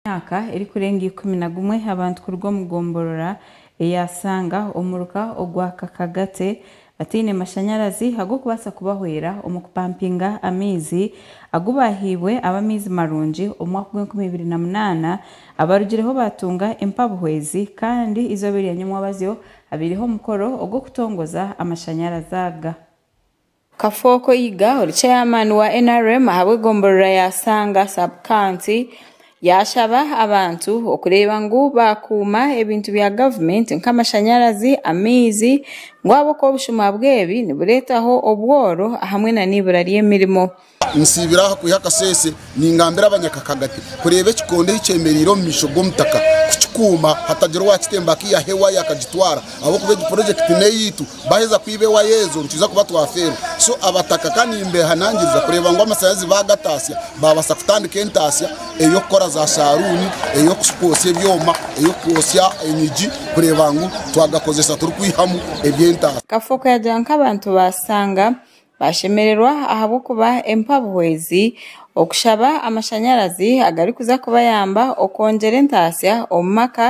myaka erikurenga ikumi na gumwe abantu kuruga omu gomborora eya Sanga omuruka ogwa Kakagate bataine mashanyarazi ag'okubaasa kubahwera omu kupampinga amaizi agu baahaibwe ab'amaizi marungi omu mwaka gwa enkumi ibiri na munaana abarugireho baatunga empabuhwezi kandi eizooba erya nyomwabazyo habaireho omukoro ogw'okutongoza amashanyarazi aga. Kafooko Yiga, ori chairman wa nrm ahabwe gomborora ya Sanga sub county yashaba abantu okureeba ngu bakuuma ebintu bya government nka amashanyarazi, amaizi ngu ahabwokuba obushuma bwebi niburetaho obworo ahamwe na neibura ryemirimo. Nsiibire aha kwiha akasese. Ningambira abanyakakaga ati, Kureeba ekikondo ei kyemereire omu maisho g'omutaka, kukikuuma hatagira owaakitemba akaihaho ewaya akagitwara, ahabw'okuba egi porojekiti n'eyaitu, baaheza kwiba ewaya ezo nitwiza kuba twafeerwa. So abataka ka nimbeehanangiriza kureeba ngu amashanyarazi baagataasya, baabaasa kutandika entaasya ey'okukora za saaluuni, ey'okwotsya ebyoma, ey'okwotsya enyigi kureeba ngu twagakozesa turikwihamu eby'entaasya. Kafooko yagira ngu nk'abantu baashanga Baashemererwa ahabw'okuba empabuho ezi okushaba amashanyarazi agarikuza kubayamba okwongyera entaasya omu maka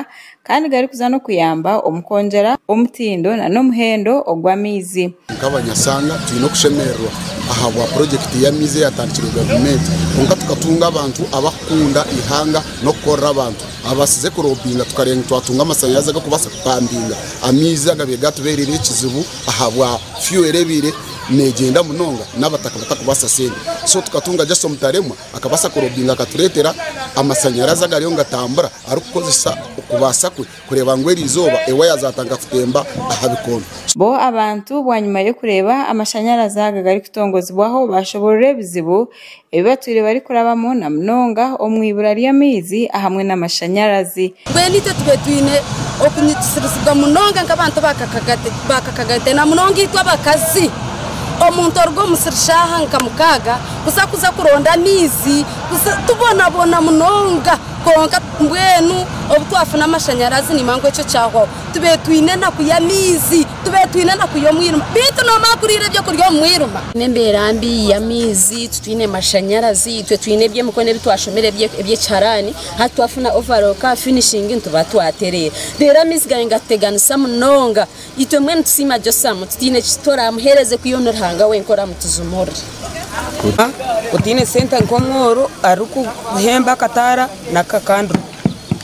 kandi garikuza n'okuyamba omu kwongyera omutindo nana omuhendo ogw'amaizi. Nk'abanyashanga twine okushemererwa ahabwa purojekiti y'amaizi eyatandikirwe gavumenti kwonka tukatunga abantu abarikukunda eihanga n'okukorera abantu abaabaasize kuroobinga tukareeba ngu twatunga amashanyarazi agarikubaasa kupambinga amaizi agabaire gaatubeereire ekizibu ahabwa fuel erebiire negyenda munonga nabataka batakubaasa sente so tukatunga just omutaremwa akabaasa kurobinga akaturetera amasanyarazi agariyo nigatambura arikukozesa okubaasa kwe kureeba ngu eri izooba ewaya zatandika kutemba aha bikondo. Bo abantu bwanyima y'okureeba amashanyarazi aga garikutongozibwaho bashoborora ebizibu ebi batwire barikurabamu na munonga omu ibura ry'amaizi ahamwe n'amashanyarazi. Mbwenu itwe tube twine okunyigisirizibwa munonga nk'abantu ba kakagate na munonga itwe abakazi. Omuntu oruga omu musiri shaaha nka mukaaga kuza kuza kuronda amaizi tubonabona munonga kwonka mbwenu obu twafuna amashanyarazi nimba ngu ekyo kyahwaho. tube twine enaku y'amaizi, tube twine enaku y'omwirima, beitu nomara kuriira ebyokurya omu mwirima. N'embeera mbi y'amaizi, titwine mashanyarazi, itwe twine eby'emikono ebi twashomire eby'ekiharaani, hati twafuna overall ka finishing nituba twatereera. Reero amaizi gaabaire nigatuteganisa munonga, itwe mbwenu tusiima Josamu, tutaine ki toraamuheereze ku iwe ni Ruhanga wenka oraamutujumurire. Otaine sente nk'omworo arikukuhemba akataara na ka candle,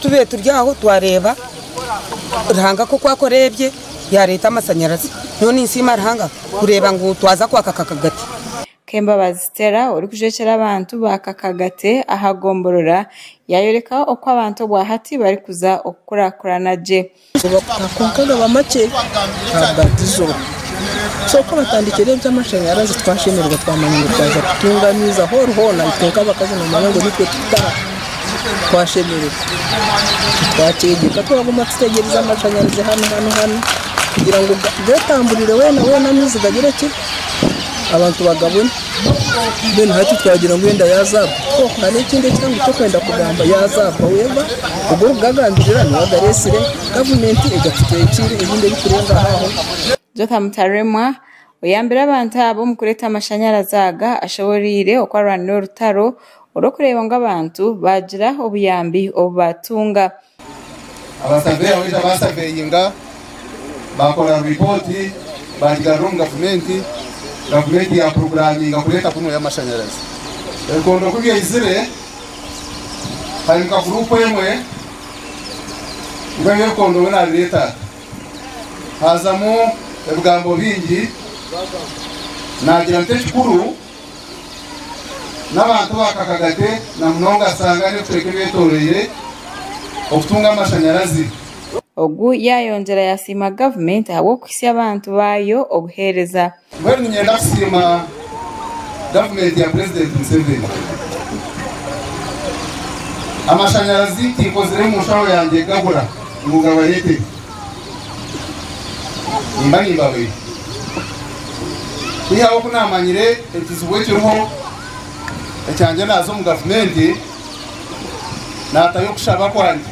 tube turi aho twareeba. Ruhanga ku oku akora ebye, yaareeta amashanyarazi. Nyowe ninsiima Ruhanga kureeba ngu twaza kwa Kakagate. Kembabazi Stella orikujwekyera abantu ba Kakagate aha gomborora yaayoreka oku abantu obwa hati barikuza okukurakurana gye. Nibakutaho kwonka gaba makye ahabwatizo. So ku batandikire eby'amashanyarazi twashemererwa twamanya ngu twaza kutunga amaizi ahoori hoona itwe nk'abakazi noomanya ngu nitwe tukutaha. twashemererwa twakyegyeka twaguma tutegyereza amashanyarazi hanu hanu hanu kugira ngu getamburire wena wena amaizi gagire ki abantu bagabone then hati twagira ngu enda yazagwa oh hariho ekindi eki ngu kyokwenda kugamba yazagwa weva ogu orikugagambirira niwe ogaretsire gavumenti egatutekyire ebindi ebiturengaho aho. Joka Mutaremwa Oyambire abantu abo omu kureeta amashanyarazi aga ashoboreire oku arwanire orutaro orw'okureeba ngu abantu baagira obuyambi obu baatunga. Abasaveya baija baasaveeyinga, baakora ripooti, baagigarura omu gavumenti, gavumenti yaapuroguraaminga kureeta kunu ey'amashanyarazi. Ebikondo ku byaizire, haimuka guruupu emwe ngu eby'ebikondo we naabireeta ata? haazamu ebigambo bingi naagira nti ekikuru n'abantu bakaka gate na munonga asanga n'ebicweka ebyetoroire okutunga amashanyarazi. Ogu yaayongyera yasiima gavumenti ahabw'okuhitsya abantu baayo obuheereza. Mbwenu niinyenda kusiima gavumenti ya Purezidenti Museveni. Amashanyarazi tinkozire mu nshaho yangye gabura ngu ngabareetere. Nimba nimbabaire. Kwihaho ku naamanyire ekizibu ekiriho ekyangye naaza omu gavumenti naatayo kushaba kwangye.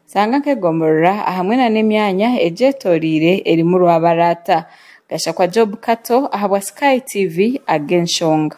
Shanga nk'egomorora ahamwe na n'emyanya egyetoreire erimu rwabaraata. Gashakwa Job Kato ahabwa Sky TV ag'enshonga.